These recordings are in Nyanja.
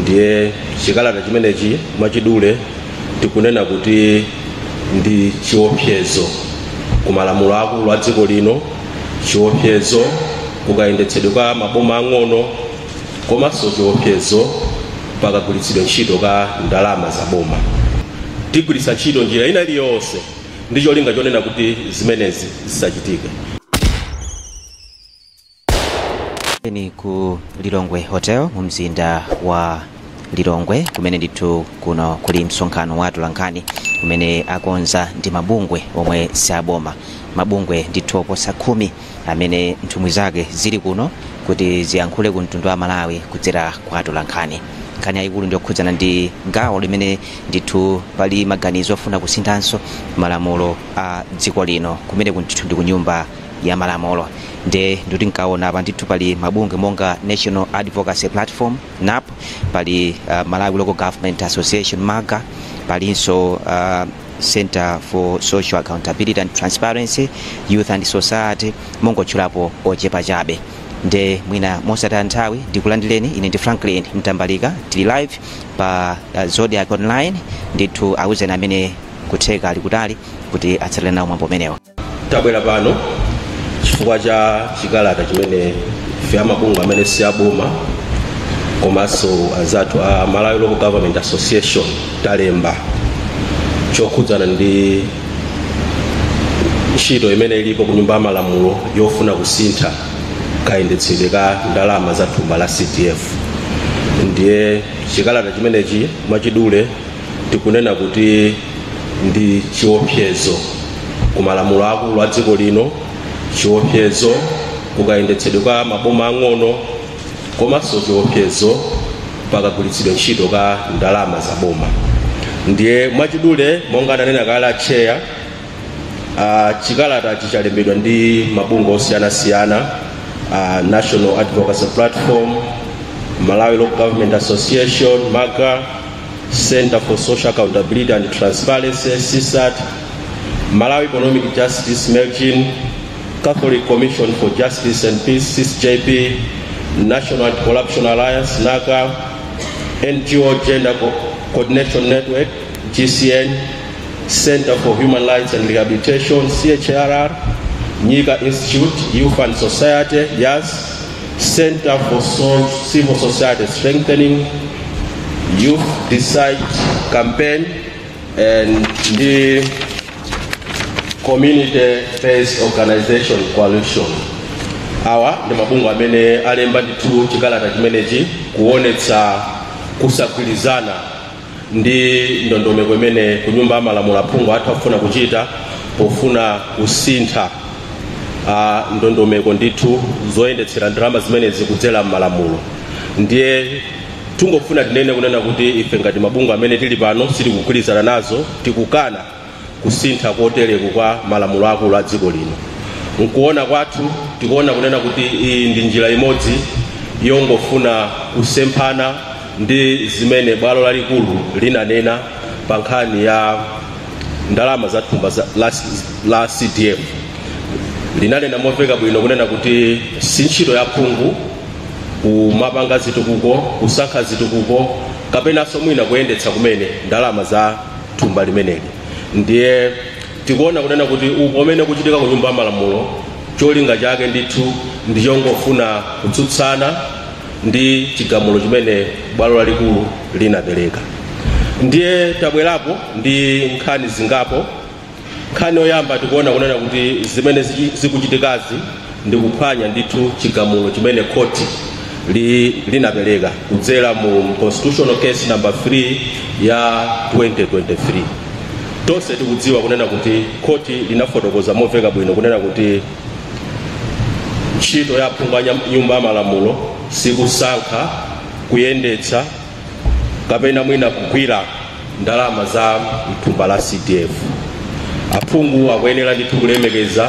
ndiye chikalata chimenechi mwachidule tikunena kuti ndi chiopsezo ku malamulo akulu a dziko lino chiopsezo kukayendetsedwe ka maboma ang'ono komanso chiopsezo pakagwiritsidwe ntchito ka ndalama za boma tigwiritsa ntchito njira ina iliyonse ndi cholinga chonena kuti zimenezi zisachitike ni ku lilongwe hotel mu mzinda wa lilongwe kumene ndithu kuno kuli msonkhano wa atolankhani umene akonza ndi mabungwe omwe si aboma mabungwe ndithu oposa khumi amene nthumwi zake zili kuno kuti ziyankhule ku mtundu wa amalawi kudzera kwa atolankhani nkhani yayikulu ndiyokhudzana ndi gawo limene ndithu pali maganizo ofuna kusinthanso malamulo a dziko lino kumene ndithu ndi kunyumba ya malamulo nde ndikuti ndikaona apa ndithu pali mabungwe monga national advocacy platform nap pali uh, malawi local government association malga palinso uh, center for social accountability and transparency youth and society mongotchulapo ochepa chabe nde mwina mosataya nthawi ndikulandireni ine ndi franklin mtambalika tili live pa uh, zodiac online ndithu awuzeni amene kutheka ali kutali kuti atsatire nawo mwambo umenewo Tabwera pano chifukwa cha chikalata chimene ife amabungwe amene si aboma komanso anzathu a Malawi Local Government Association talemba chokhudzana ndi ntchito imene ilipo ku nyumba ya malamulo yofuna kusintha kayendetsedwe ka ndalama za thumba la CDF. Ndiye chikalata chimenechi mwachidule tikunena kuti ndi chiopsezo ku malamulo akulu a dziko lino chiopsezo kukayendetsedwe ka maboma ang'ono komanso chiopsezo pakagwiritsidwe ntchito ka ndalama za boma ndiye mwachidule monga ananena kale atcheya uh, chikalata ichi chalembedwa ndi mabungwe osiyanasiyana uh, national advocacy platform malawi local government association malga Center for Social Accountability and Transparency, CSAT, Malawi Economic Justice, MELGIN, Catholic Commission for Justice and Peace, CISJP, National Anti-Corruption Alliance, NACA, NGO Gender Co- Coordination Network, GCN, Center for Human Rights and Rehabilitation, CHRR, Nika Institute, Youth and Society, YAS, Center for Civil Society Strengthening, Youth Decide Campaign, and the Community Based Organization Coalition. Awa ndi mabungwe amene alemba ndithu chikalata chimenechi kuonetsa kusagwirizana ndi ndondomeko imene kunyumba ya malamulo aphungu athu akufuna kuchita pofuna kusintha ah, ndondomeko ndithu zoyendetsera ndalama zimenezi kudzera m'malamulo ndiye tikungofuna tinene kunena kuti ife ngati mabungwe amene tili pano sitikugwirizana nazo tikukana kusintha kotereku kwa malamulo akulu a dziko lino. Mkuona kwathu tikuona kunena kuti iyi ndi njira imodzi yongofuna kusemphana ndi zimene bwalo lalikulu linanena pa nkhani ya ndalama za thumba la CDF linanena momveka bwino kunena kuti si ntchito ya phungu kumapanga zitukuko kusankha zitukuko kapenanso mwina kuyendetsa kumene ndalama za thumba limeneli ndiye tikuona kunena kuti upo umene ukuchitika ku nyumba ya malamulo cholinga chake ndithu ndi chongofuna kutsutsana ndi chigamulo chimene bwalo lalikulu linapereka ndiye tabwerapo ndi nkhani zingapo Nkhani yoyamba tikuona kunena kuti zimene zikuchitikazi ndi kuphwanya ndithu chigamulo chimene khoti li, linapereka kudzera mu constitutional case number 3 ya 2023 tonse tikudziwa kunena kuti khoti linafotokoza moveka bwino kunena kuti ntchito ya aphungu a nyumba ya malamulo sikusankha kuyendetsa kapena mwina kugwira ndalama za mthumba la CDF. Aphungu akuyenera ndithu kulemekeza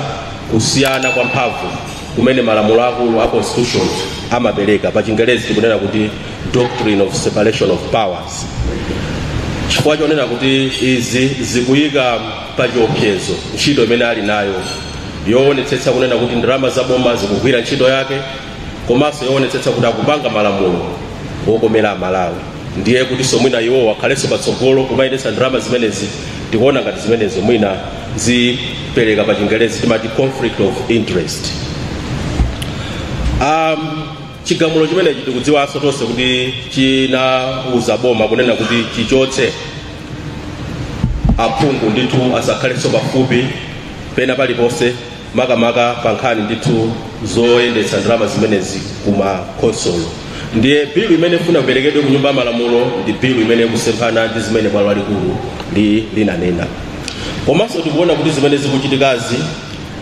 kusiyana kwa mphamvu kumene malamulo akulu a constitution amapereka pa chingerezi kunena kuti doctrine of separation of powers chifukwa chonena kuti izi zikuyika pa chiopsezo ntchito imene ali nayo yoonetsetsa kunena kuti ndalama za boma zikugwira ntchito yake komanso yoonetsetsa kuti akupanga malamulo wokomera amalawi ndiye kutinso mwina iwowo akhalenso patsogolo kumayendetsa ndalama zimenezi tikuona ngati zimenezo mwina zipereka pa chingerezi timati conflict of interest um, chigamulo chimenechi tikudziwanso tonse kuti chinauza boma kunena kuti chichotse aphungu ndithu asakhalenso pafupi pena paliponse makamaka pa nkhani ndithu zoyendetsa ndalama zimenezi ku makhonsolo ndiye bilu imene ifuna iperekedwe ku nyumba ya malamulo ndi bilu imene ikusemphana ndi zimene bwalo lalikulu li- linanena komanso tikuona kuti zimene zikuchitikazi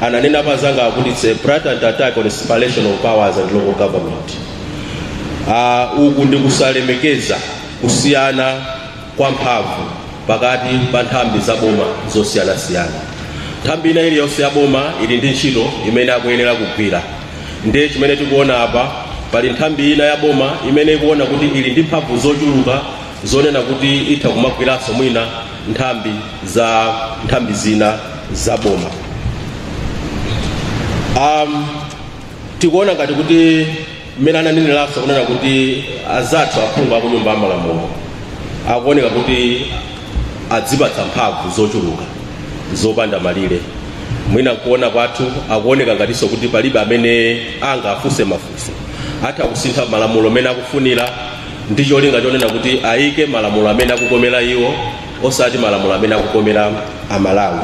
ananena anzanga akuti it's a blatant attack on separation of powers and local government uh, uku ndi kusalemekeza kusiyana kwa mphamvu pakati pa nthambi za boma zosiyanasiyana. Nthambi ina iliyonse ya boma ili ndi ntchito imene akuyenera kugwira. Ndiye chimene tikuona apa, pali nthambi ina ya boma imene ikuona kuti ili ndi mphamvu zochuluka zonena kuti itha kumagwiranso mwina nthambi za nthambi zina za boma. Um, tikuona ngati kuti mmene ananeneranso kunena kuti azathu aphungu a kunyumba ya malamulo akuoneka kuti adzipatsa mphamvu zochuluka zopanda malire mwina kuona kwathu akuoneka ngatinso kuti palibe amene angawafunse mafunso atha kusintha malamulo mmene akufunira ndi cholinga chonena kuti ayike malamulo amene akukomera iwo osati malamulo amene akukomera amalawi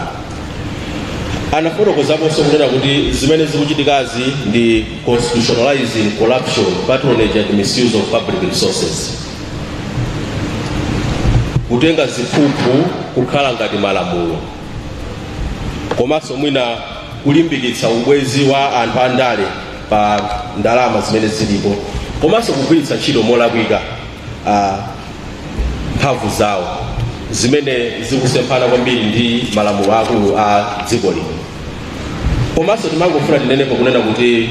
anafotokozaponso kunena kuti zimene zikuchitikazi ndi constitutionalizing corruption patronage and misuse of public resources kutenga ziphuphu kukhala ngati malamulo komanso mwina kulimbikitsa ubwezi wa anthu andale pa ndalama zimene zilipo komanso kugwiritsa ntchito molakwika a mphamvu zawo zimene zikusemphana kwambiri ndi malamulo akulu a dziko lino komanso timafuna tinenepo kunena kuti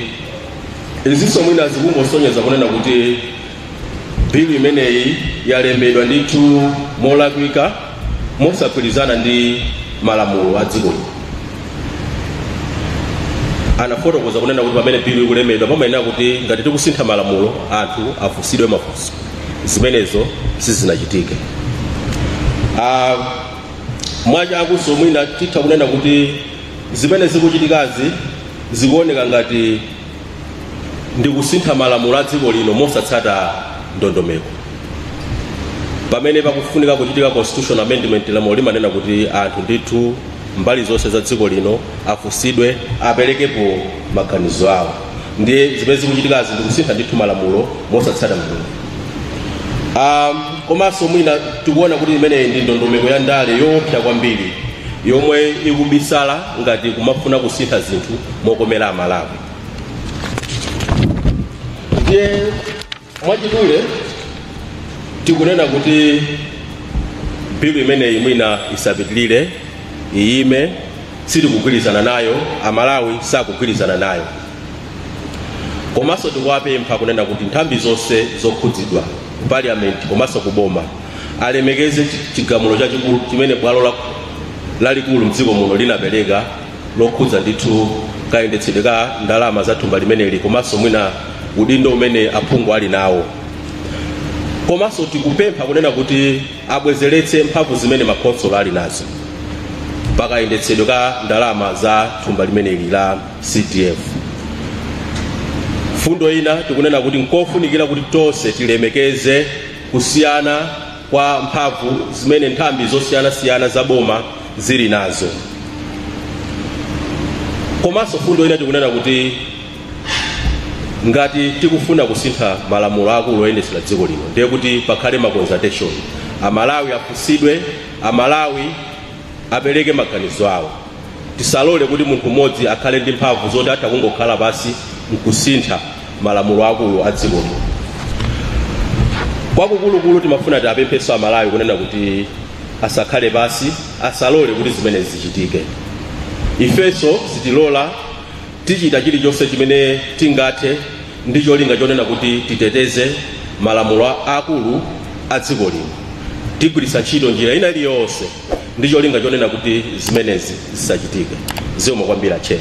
izinso mwina zikungosonyeza kunena kuti bilu imeneyi yalembedwa ndithu molakwika mosagwirizana ndi malamulo a dziko lino. Anafotokoza kunena kuti pamene bilu ikulembedwa pamayenera kuti ngati tikusintha malamulo anthu afunsidwe mafunso. Zimenezo sizinachitike. Ah, mwachangunso mwina titha kunena kuti zimene zikuchitikazi zikuoneka ngati ndi kusintha malamulo a dziko lino mosatsata ndondomeko pamene pakufunika kuchitika constitutional amendment lamulo limanena kuti anthu ndithu mbali zonse za dziko lino afunsidwe aperekepo maganizo awo ndiye zimene zikuchitikazi ndikusintha ndithu malamulo mosatsata ndondomeko um, komanso mwina tikuona kuti imeneyi ndi ndondomeko ya ndale yoopsa kwambiri yomwe ikubisala ngati kumafuna kusintha zinthu mokomera amalawi ndiye mwachidule tikunena kuti bilu imeneyi mwina isapitilire iyime sitikugwirizana nayo amalawi sakugwirizana nayo komanso tikuwapempha kunena kuti nthambi zonse zokhudzidwa ku parliament komanso ku boma alemekeze chigamulo chachikulu chimene bwalo la lalikulu mdziko muno linapereka lokhudza ndithu kayendetsedwe ka ndalama za thumba limeneli komanso mwina udindo umene aphungu ali nawo komanso tikupempha kunena kuti abwezeretse mphamvu zimene makhonsolo ali nazo pakayendetsedwe ka ndalama za thumba limeneli la cdf mfundo ina tikunena kuti nkofunikira kuti tonse tilemekeze kusiyana kwa mphamvu zimene nthambi zosiyanasiyana za boma zili nazo komanso fundo ina ikunena kuti ngati tikufuna kusintha malamulo akulu oyendetsera dziko lino ndiye kuti pakhale ma consultation amalawi afunsidwe amalawi apereke maganizo awo Tisalole kuti munthu mmodzi akhale ndi mphamvu zoti atha kungokhala pansi n'kusintha malamulo aakulu a dziko lino. Kwakukulukulu timafuna tiwapemphenso Amalawi kunena kuti asakhale pansi, asalole kuti zimenezi zichitike. Ifenso sitilola, tichita chilichonse chimene tingathe ndi cholinga chonena kuti titeteze malamulo aakulu a dziko lino. Tigwiritsa ntchito njira ina iliyonse. ndi cholinga chonena kuti zimenezi zisachitike zikomo kwambiri atcheya